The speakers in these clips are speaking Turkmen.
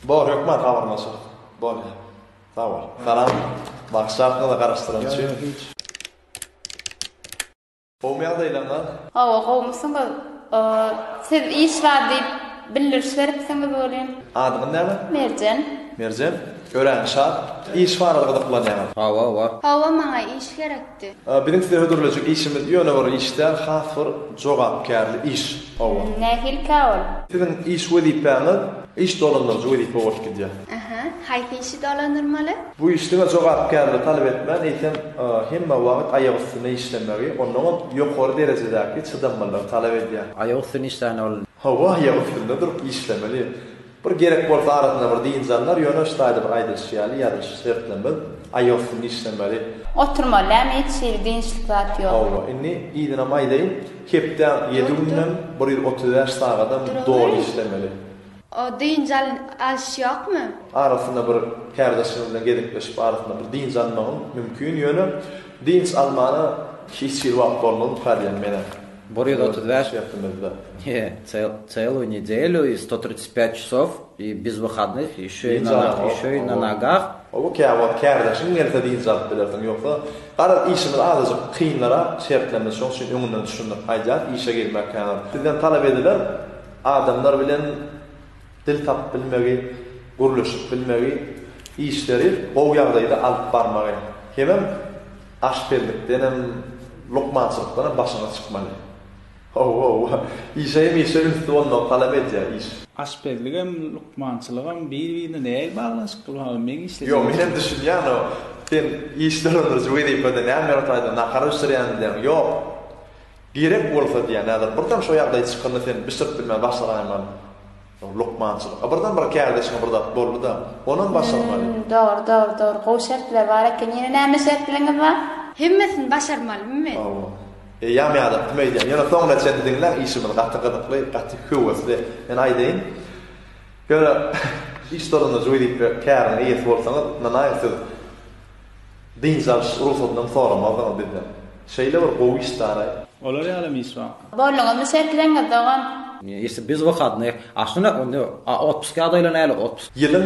Bor hökman habarlaşarys. Bolýar. Sag bol. Salam. Bagşy arkaly garaşdyran üçin. Gowmy ýagdaýlaryňyz? Hawa gowmysyňyz? Siz iş bar diýip bildiriş beripsiňiz welin. Adyňyz näme? Merjen. Merjen. Örän şat. Iş barada gyzyklanýaňyz. Hawa bar. Hawa maňa iş gerek. aýtdy. Biziň size hödürlejek işimiz ýöne bir iş däl, has bir jogapkärli iş. Hawa. Nähilikä ol? Siziň iş wezipäňiz iş dolandyryjy wezipe bolup gidýär. Aha. Haýsy işi dolandyrmaly? Bu iş diňe jogapkärligi talap etmän, eýsem, hemme wagt aýak üstünde işlemegi, onnoňam ýokary derejedäki çydamlylygy talap edýär. Aýak üstünde işlände ol. Hawa, aýak üstünde durup işlemeli. Bir gerek bolsa arasynda bir dynç alnar, ýöne şu taýda bir aýdylyşy ýaly ýazylyşy şertlenmez, aýagy üstünde işlemeli. Oturmaly dämi hiç hili dynçlyk zat ýok. Hawa, indi yzynam aýdaýyn, hepdäň ýedi gününem, bir ýüz otuz bäş sagadam doly işlemeli. O dynç alyş ýokmy? Arasynda bir kärdeşiňiz bilen gezekleşip arasynda bir dynç almagyň mümkin, ýöne dynç almana hiç hili wagt bolmaz, ykrar edýän menem. Bir ýüz otuz bäş ýatymyzda. He, celuw nedelyu i sto tritsjt pät çasow i biz wyhadnych i şö i na i şö i na nagah. Oba kä wagt kärdeşiň gelse dynç alyp bilersiň. Ýogsa, garaz, işimiz azajyk kynlarak, şertlerimiz şoň üçin öňünden düşündirip aýdýarys, işe girmek kän. Sizden talap ediler, adamlar bilen dil tapyp bilmegi, gürleşip bilmegi, işleri gowy ýagdaýda alyp barmagy. Hemem. Aşpezlikdenem, lukmançylykdanam başyňyz çykmaly. Hawa-hawa. Işe hem işe ünsli bolmagy talap edýär iş. Aşpezligem, lukmançylygam bir-birine nähili baglanyşykly bolmaly? Meň işlejek işim. Ýok, menem düşünýän o. Sen iş dolandyryjy wezipede näme ýaly taýdan nahar bişirýän diýýäň. Ýok. Gerek bolsa diýýän häzir birden şo ýagdaý çykanda sen bişirip bilmän başlaraýmaly. Ol lukmançylyk. A birden bir kärdeşiňe bir zat boldy-da, onam başarmaly. Hümm, dogry, dogry, dogry. Gowy şertler bar eken. Ýene näme şertleriňiz bar? Hemmesini başarmalymy men? Hawa. Eýýäm ýadyňa kim öýdýän. Ýöne soňuna çenli diňläň, işimiz gaty gyzykly, gaty höwesli. Men aýdaýyn. Ýöne, iş stolunda juý diýip bir käriň eýesi bolsaňyz, ynanaý, siz. Dynç alyş rugsatynam soramazdyňyz bizden. Şeýle bir gowy iş daraý. Olar ýalam iş bar. Borlugymy şertleňiz dogan. Ýesi biz wykadnyý. A şunak onda a otpuska adaýla näle otpus. Ýylyň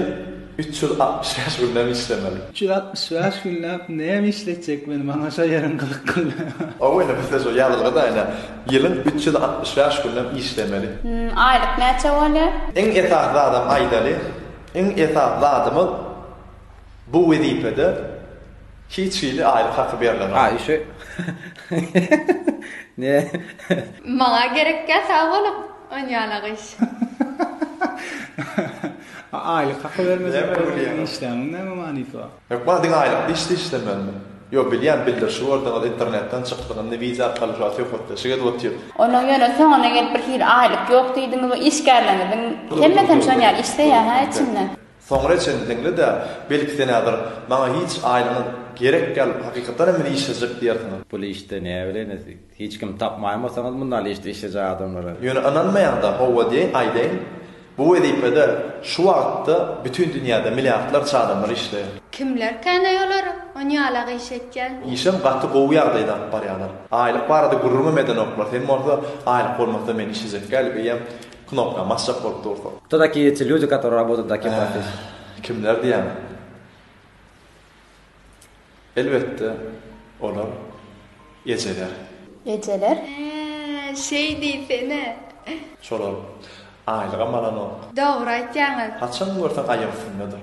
üç ýüz altmyş bäş gününem işlemeli. Üç ýüz altmyş bäş günläp näme işletjek meni maňa şo ýeriň gyzyk güldi. Ow indi bizde şo ýazylgyda ine ýylyň üç ýüz altmyş bäş gününem işlemeli. Aýlyk näçe bolýa. Iň esasy zadam aýdaly iň esasy zadymyz. Bu wezipede hiç hili aýlyk haky berlenok. A işe ne. Maňa gerekkä sag boluň on ýalak iş. A aýlyk haky bermejek bolsaň işläniň näme manysy bar. Hökman diňe aýlyk iş işlemeli. Ýo bilýän bildirişi gorduňyz internetden çykdyň indi wiza arkaly şo söhbetdeşik edip otyr. Onuň ýöne soňuna gelip bir hili aýlyk ýok diýdiňiz o işgärleriňiziň hemmesem şon ýaly işleýä hä içinden. Soňra çenli diňle-dä, belki senädir, maňa hiç aýlygyňyz gerek däl, hakykatdan hem meni işlejek diýersiňiz. Pul işde näbileýin, hiç kimi tapmaýanbolsaňyz mundaly işde işlejek adamlary. Ýöne ynanmaýaňda howwa diýeýin, aýdaýyn, bu wezipede şu wagtda bütin dünýäde milliardlarça adamlar işleýär. Kimlerkänaý olar on ýalak iş etýän? Işem gaty gowy ýagdaýda alyp barýarlar. Aýlyk barada gürrüňem edenoklar, sen bolsa aýlyk bolmasa meni işlejek däl öýem, Knopka basjak bolup dursa. Kto takiýe eti lýudi katori rabotad takiýe professi. Kimler diýýän. Elbetde olar ejeler. Ejeler. Hää şeý diýsene. Şolar aýlygam alanok. Dogry aýtýaňyz. Haçan görseň aýak üstündedir.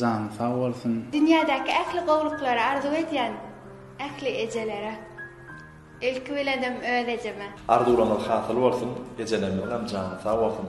Jany sag bolsun. Dünýädäki ähli gowluklary arzuw edýän ähli ejelere. Ilki bilenem öz ejeme. Arzuwlaňyz hasyl bolsun ejelerimiziňem jany sag bolsun.